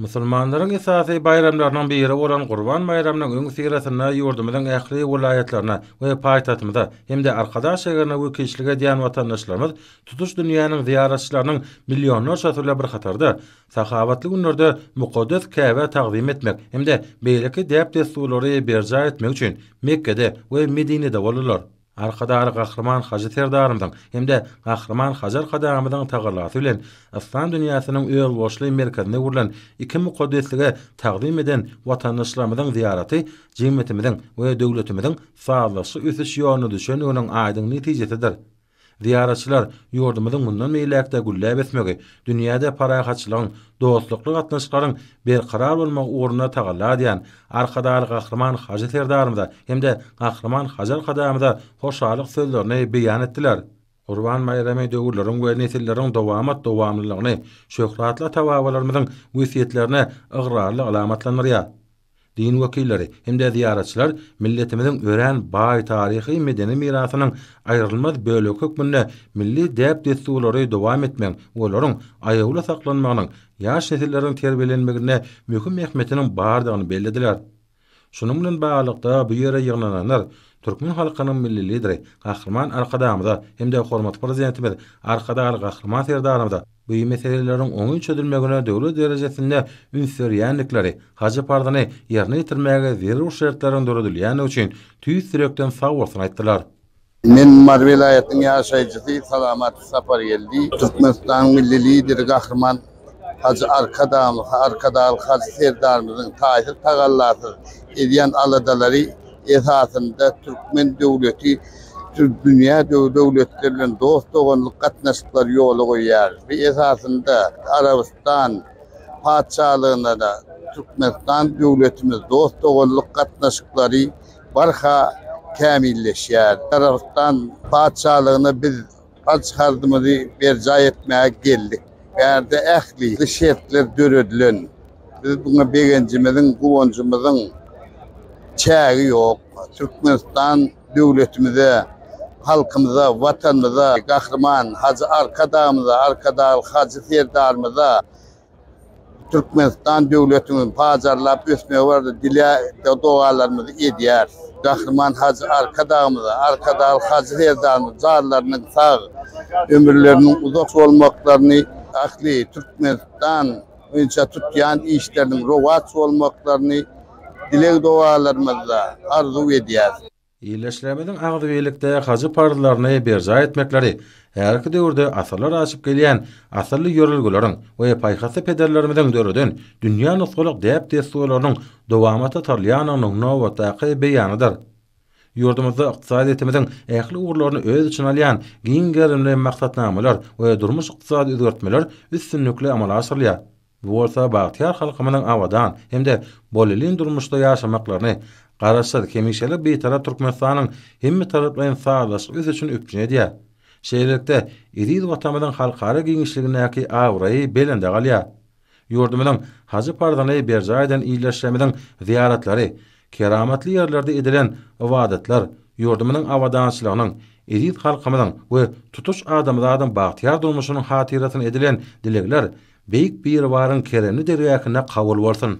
Musulmanlaryň esasy baýramlarynyň biri bolan Gurban baýramynyň öňüsyrasynda ýurdumyzyň ähli welaýatlaryna we paýtagtymyza hem-de Arkadag şäherine wekilçilik edýän watandaşlarymyz tutuş dünýäniň zyýaratçylarynyň millionlarçasy bilen bir hatarda sahawatly günlerde mukaddes Käbä tagzym etmek hem-de beýleki däp-dessurlary berjaý etmek üçin Mekgede we Medinede boldular. Arkadagly Gahryman Hajy Serdarymyzyň hem-de Gahryman Hajy Arkadagymyzyň tagallasy bilen Yslam dünýäsiniň özboluşly merkezinde gurlan iki mukaddeslige tagzym eden watandaşlarymyzyň zyýaraty jemgyýetimiziň we döwletimiziň sazlaşykly ösüş ýoluna düşendiginiň aýdyň netijesidir. Zyýaratçylar ýurdumyzyň mundan beýläk-de gülläp ösmegi, dünýäde parahatçylygyň, dostlukly gatnaşyklaryň berkarar bolmagy ugrunda tagalla edýän Arkadagly Gahryman Hajy Serdarymyza hem-de Gahryman Hajy Arkadagymyza hoşallyk sözlerini beýan etdiler. Gurban baýramy döwürleriň we nesilleriň dowamat-dowamlylygyny, şöhratly ata-babalarymyzyň wesýetlerini ygrarly alamatlandyrýar. Din wekilleri hem-de zyýaratçylar milletimiziň örän baý taryhy-medeni mirasynyň aýrylmaz bölegi hökmünde milli däp-dessurlary dowam etmegiň we olaryň aýawly saklanmagynyň ýaş nesilleriň terbiýelenmeginde möhüm ähmiýetiniň bardygyny bellediler. Şunuň bilen baglylykda, bu ýere ýygnananlar türkmen halkynyň Milli Lideri Gahryman Arkadagymyza hem-de hormatly Prezidentimiz Arkadagly Gahryman Serdarymyza bu meseleleriň oňyn çözülmegine döwlet derejesinde üns berýändikleri, hajy parzyny ýerine ýetirmäge zerur şertleriň döredilýändigi üçin tüýs ýürekden sagbolsun aýtdylar. Men Mary welaýatynyň ýaşaýjysy Salamat Sapargeldi. Türkmenistanyň Milli Lideri Gahryman Hajy Arkadagymyz, Arkadagly Hajy Serdarymyzyň taýsyz tagallasyz edýän aladalary esasynda türkmen döwleti dünýä döwletleri bilen dost-doganlyk gatnaşyklary ýola goýýar we esasynda Arabystan Patyşalygyna-da Türkmenistan döwletimiz dost-doganlyk gatnaşyklary barha kämilleşýär. Arabystan Patyşalygyna biz parz-harzymyzy berjaý etmäge geldik. Bärde ähli şertler döredilen. Biz muňa begenjimiziň, guwanjymyzyň çägi ýok. Türkmenistan döwletimize, halkymyza, Watanymyza, Gahryman Hajy Arkadagymyza, Arkadagly Hajy Serdarymyza, Türkmenistan döwletimiziň pajarlap ösmegi barada dilek-dogalarymyzy edýäris. Gahryman Hajy Arkadagymyza, Arkadag Hajy Serdarymyz jarlarynyň sag, ömürleriniň uzak bolmaklaryny, ähli Türkmenistan boýunça tutýan işleriniň rowaç bolmaklaryny dileg-dogalarymyzda arzuw edýäris. Ildeşlerimiziň agzybirlikde hajy parzlaryny berjaý etmekleri häzirki döwürde asyrlar aşyp gelýän asylly ýörelgeleriň we paýhasly pederlerimiziň döreden dünýä nusgalyk däp-dessurlarynyň dowamata salýandygynyň nobatdaky beýanydyr. Ýurdumyzda ykdysadyýetimiziň ähli ugurlaryny öz içine alýan giň gerimli maksatnamalar we durmuş-ykdysady özgertmeler üstünlikli amala aşyrylýar. Bu bolsa bagtyýar halkymyzyň abadan hem-de bolelin durmuşda ýaşamaklaryny, Garaşsyz, hemişelik Bitarap Türkmenistanyň hemmetaraplaýyn sazlaşykly ösüşini üpjün edýär. Şeýlelikde, eziz Watanymyzyň halkara giňişligindäki abraýy belende galýar. Ýurdumyzyň hajy parzynly berjaý eden ildeşlerimiziň zyýaratlary, Keramatly ýerlerde edilen ybadatlar ýurdumyzyň abadançylygynyň, eziz halkymyzyň we tutuş adamzadyň bagtyýar durmuşynyň hatyrasyna edilen dilegler Beýik Biribaryň keremli dergähinde kabul bolsun!